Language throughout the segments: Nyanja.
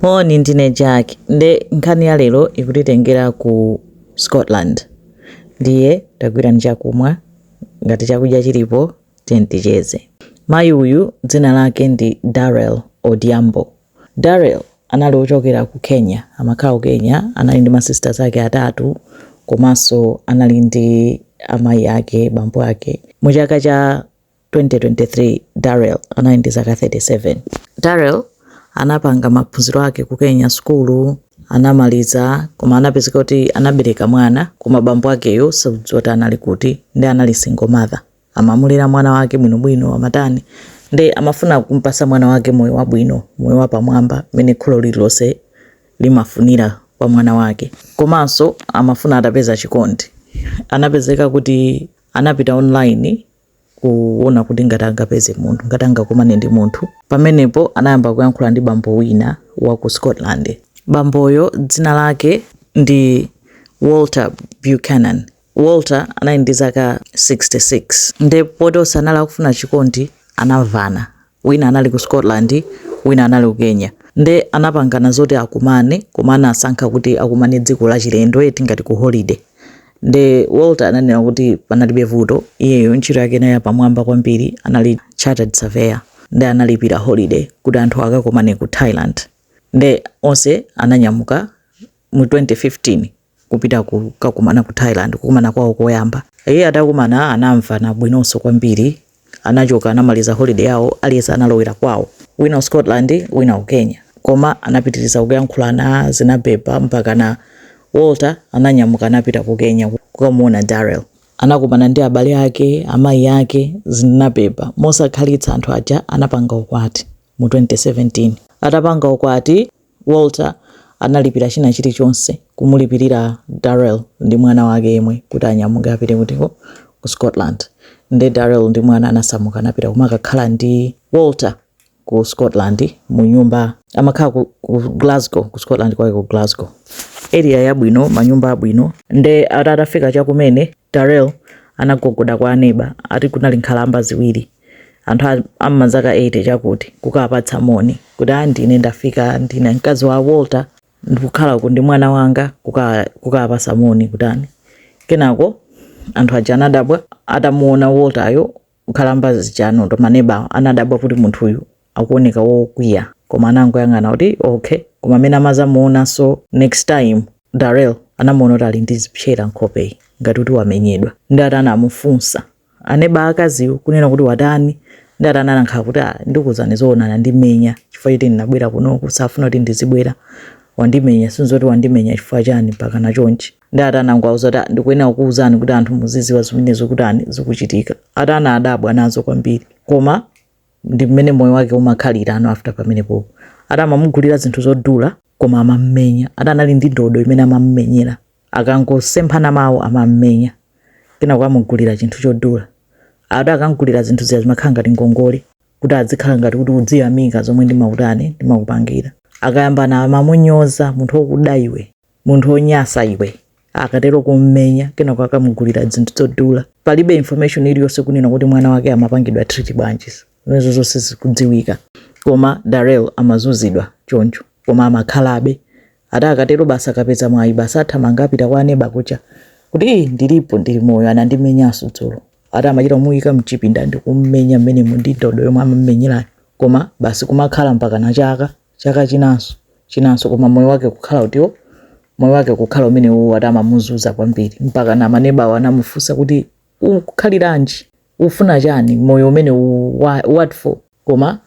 Moni, ndine Jack nde nkhani ya lero ikutitengera ku Scotland. Ndiye tagwirani chakumwa, ngati chakudya chilipo tiyeni ticheze. Mayi uyu dzina lake ndi Darrel Odhiambo. Darrel anali wochokera ku Kenya, amakhala ku Kenya. Anali ndi ma sisters ake atatu komanso anali ndi amayi ake, bambo ake. Mu chaka cha 2023 Darrell anali ndi zaka 37. Darrell anapanga maphunziro ake ku Kenya sukulu anamaliza koma anapezeka kuti anabereka mwana koma bambo akeyo sadziwa kuti anali kuti ndi anali single mother amamulera mwana wake bwinobwino amatani ndi amafuna kumpasa mwana wake moyo wabwino moyo wapamwamba mmene kholo lililonse limafunira kwa mwana wake komanso amafuna atapeza chikondi anapezeka kuti anapita online kuona kuti ngati angapeze munthu, ngati angakumane ndi munthu. Pamenepo anayamba kuyankhula ndi bambo wina wa ku Scotland. Bamboyo dzina lake ndi Walter Buchanan. Walter anali ndi zaka 66 nde poti onse anali akufuna chikondi anamvana. wina anali ku Scotland wina anali ku Kenya nde anapangana zoti akumane koma anasankha kuti akumane dziko la chilendo eti ngati ku holiday nde Walter ananena kuti panalibe vuto iyeyo ntchito yake inali yapamwamba kwambiri anali chartered surveyor nde analipira holiday kuti anthu akakomane ku Thailand nde onse ananyamuka mu 2015 kupita kukakumana ku Thailand, kukumana kwawo koyamba. Iye atakumana anamvana bwinonso kwambiri. Anachoka anamaliza holiday yawo aliyense analowera kwawo. Wina ku Scotland wina ku Kenya. Koma anapitiriza kuyankhulana zinabhebha mpakana Walter ananyamuka anapita ku Kenya kukamuona Darrel. Anakumana ndi abale ake, amayi ake, zinabhebha. Mosakhalitsa anthu aja anapanga ukwati mu 2017. Atapanga ukwati. Walter analipira china chiri chonse kumulipirira Darrel ndi mwana wake yemwe kuti anyamuke apite kutiko ku Scotland nde Darrel ndi mwana anasamuka anapita kumakakhala ndi Walter ku Scotland mu nyumba amakhala ku, ku Glasgow ku Scotland kwake ku Glasgow area yabwino manyumba abwino nde atafika chakumene Darrel anagogoda kwa aneba ati kunali nkhalamba ziwiri anthu a- a m'mazaka 80 chakuti kukapatsa moni kuti a ndine ndafika ndine mkazi wa walter ndikukhala uku ndi mwana wanga kuka- kukapasa moni kutani kenako anthu aja anadabwa atamuona walter iyo nkhalamba zija ndi maneba anadabwa kuti munthu uyu akuoneka wokwiya koma anangoyang'ana kuti okay koma mmene amazamuonanso next time darel anamuona kuti ali ndi zipsera nkhopeyi ngati kuti wamenyedwa ndi ati anamufunsa aneba akaziwo kunena kuti watani ndi atani anangokhala kuti ah, ndikuwuzani zoona anandimenya chifukwa choti ndinabwera kunoku safuna kuti ndizibwera wandimenya si mzoti wandimenya chifukwa chani mpaka na chonchi ndi atani anangowauza kuti ah, ndikuyenera kukuwuzani kuti anthu muziziwa zimene zikutani zikuchitika atani adabwa nazo kwambiri koma ndi mmene moyo wake umakhalira ano after pamenepopo atamamugulira zinthu zodula koma amammenya atani anali ndi ndodo imene amammenyera akangosemphana mawu amammenya kenako amugulira chinthu chodula ati akamgulira zinthu zija zimakhala ngati ngongole kuti adzikhala ngati kuti udziyamika zomwe ndimakutani ndimakupangira akayambana amamunyoza munthu wokuda iwe munthu wonyasa iwe akatero kummenya kenako akamugulira zinthu zodula palibe information iliyonse kunena kuti mwana wake amapangidwa treat bwanji zimenezo zonse sizikudziwika koma darel amazuzidwa choncho koma amakhalabe ati akatero basi akapeza mwayi basi athamanga apita kwa aneba kucha kuti "Eh, ndilipo ndili moyo anandimenyanso dzulo ati amachita kumuyika mchipinda ndi kummenya mmenemo ndi ndodo yomwe amammenyerayo koma basi kumakhala mpaka na chaka chaka chinanso chinanso koma moyo wake kukhala utiwo moyo wake kukhala umene uwo ati amamuzuza kwambiri mpaka na manebawo anamufunsa kuti ukukhaliranji ufuna chani moyo umene uwu what for koma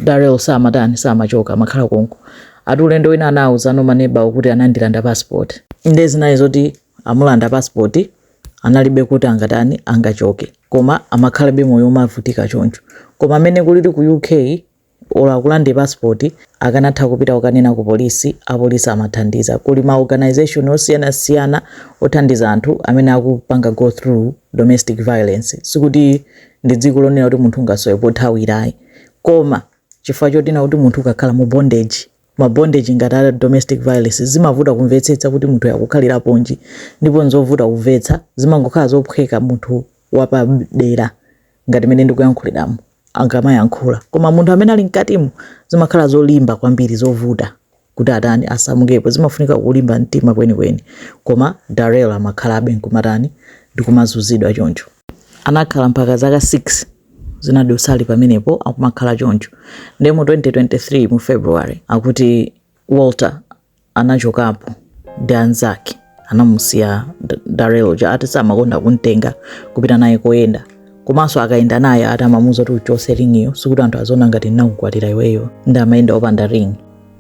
darel samatani samachoka amakhala konko ati ulendo wina anawauzano maneba kuti anandilanda passport nde zinali zoti amulanda passport analibe kuti angatani angachoke koma amakhalabe moyo umavutika choncho koma mmene kulili ku uk olo akulande passport akanatha kupita kukanena ku polisi apolisi amathandiza kuli ma organisation osiyana siyana othandiza anthu amene akupanga go through domestic violence sikuti ndi dziko lonena kuti munthu ungasowe pothawira ayi koma chifukwa chonena kuti munthu ukakhala mu bondage ma bondage ngati a domestic violence zimavuta kumvetsetsa kuti munthu akukhaliraponji ndipo nzovuta kumvetsa zimangokhala zophweka munthu wapadera ngati mmene ndikuyankhuliramu akamayankhula koma munthu amene ali mkatimo zimakhala zolimba kwambiri zovuta kuti atani asamukepo zimafunika kulimba mtima kwenikweni koma darel amakhalabe nkumatani ndikumazuzidwa choncho anakhala mpaka zaka 6 zinadutsazi pamenepo akumakhala choncho nde mu 2023 mu february akuti walter anachokapo ndi anzake anamusiya Darrell uja ati samakonda kumtenga kupita naye koyenda komanso akayenda naye ati amamuuza kuti uchotse ringiyo sikuti anthu aziona ngati ndinakukwatira iweyo ndi amayenda opanda ring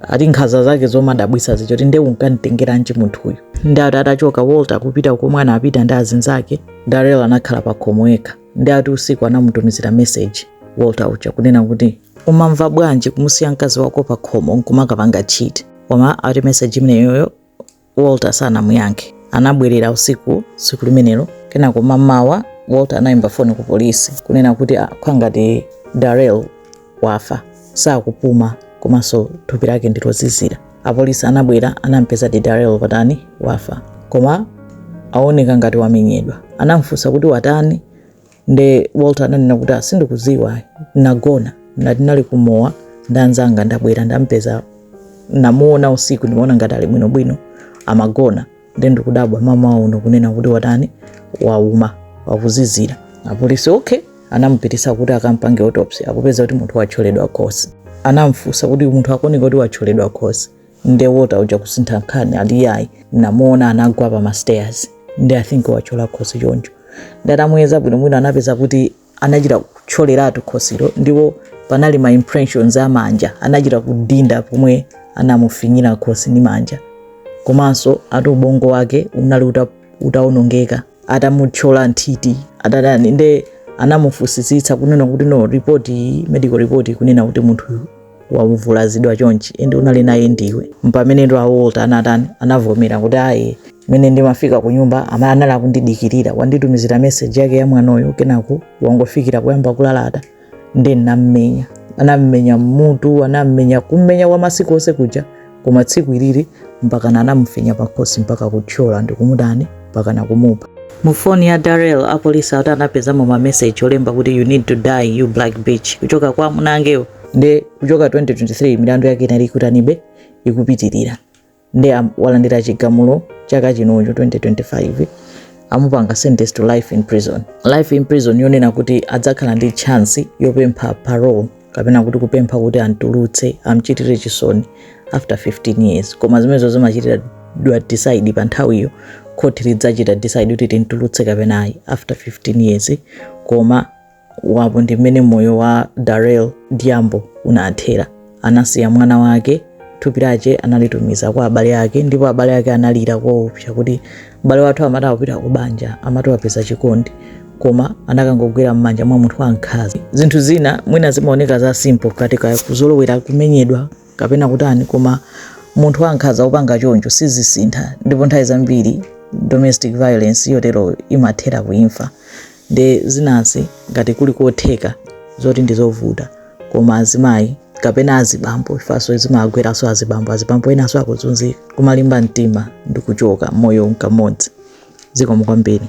ati nkhanza zake zomadabwisa zija zoti nde unkamutengeranji munthuyu ndi ati atachoka walter kupita komwe anapita ndi azinzake Darrell anakhala pa khomo yekha ndi ati usiku anamutumizira meseji walter uja kunena kuti umamva bwanji kumusiya mkazi wako pa khomo nkumakapanga cheat koma ati meseji imeneyoyo walter sanamuyankhe anabwerera usiku tsiku limenelo kenako mamawa walter anayimba foni ku polisi kunena kuti akuona ngati darel wafa sakupuma komanso thupi lake ndilozizira apolisi anabwera anampezadi darel watani wafa koma aoneka ngati wamenyedwa anamfunsa kuti watani nde walter ananena kuti a sindikuziwa nagona ati ndinali kumowa ndanzanga ndabwera ndampeza namuona usiku ndimaona ngati ali bwinobwino amagona nde ndikudabwa mamawa uno kunena kuti watani wauma wakuzizira apolisi okay anamupitisa kuti akampange autopsy akupeza kuti munthu watcholedwa khosi anamfunsa kuti munthu akuoneka kuti watcholedwa khosi nde walter uja kusintha nkhani ali yayi namuona anagwa pa mastairs nde i think wachola khosi choncho nde atamuyeza bwinobwino anapeza kuti anachita kutcholeratu khosilo ndipo panali ma impressions a manja anachita kudinda pomwe anamufinyira khosi ndi manja komanso ati ubongo wake unali uta- utaonongeka atamutchola nthiti atatani nde anamufusitsitsa kunena kuti no report iyi medical report ikunena kuti munthu wavulazidwa chonchi ende unali naye ndiwe mpameneno walter anatani anavomera kuti ayi mene ndimafika ku nyumba ama anali akundidikirira wanditumizira message yake ya mwanoyo kenako wangofikira kuyamba kulalata nde nammenya anammenya mmutu anammenya kummenya kwa masiku onse kuja koma tsiku ilili mpakana anamufinya pakhosi mpaka kutchola ndikumutani mpakana kumupha mu foni ya darel apolisi ati anapezamo mameseji olemba kuti you need to die you black bitch kuchoka kwa amuna akewo nde kuchoka 2023 milandu yake inali ikutanibe ikupitirira nde walandira chigamulo chaka chinocho 2025 amupanga sentence to life in prison life in prison yonena kuti adzakhala ndi chance yopempha parole kapena kuti kupempha kuti amtulutse amchitire chisoni after 15 years koma zimenezo zimachitidwa decide pa nthawiyo khoti lidzachita decide kuti timtulutse kapena ayi after 15 years koma apo ndi mmene moyo wa darel diambo unathera anasiya mwana wake thupi lake analitumiza kwa abale ake ndipo abale ake analira koopsa kuti m'bale wathu amati akupita ku banja amati wapeza chikondi koma anakangogwera m'manja mwa munthu wankhanza zinthu zina mwina zimaoneka za simple kati ka kuzolowera kumenyedwa kapena kutani koma munthu wankhanza opanga choncho sizisintha ndipo nthawi zambiri domestic violence yotero imathera kuimfa nde zinazi ngati kuli kotheka zoti ndizovuta koma azimayi kapena azibambo imfanso zimagweranso azibambo azibambo enaso akuzunzika kumalimba mtima ndikuchoka moyo nkamodzi zikomo kwambiri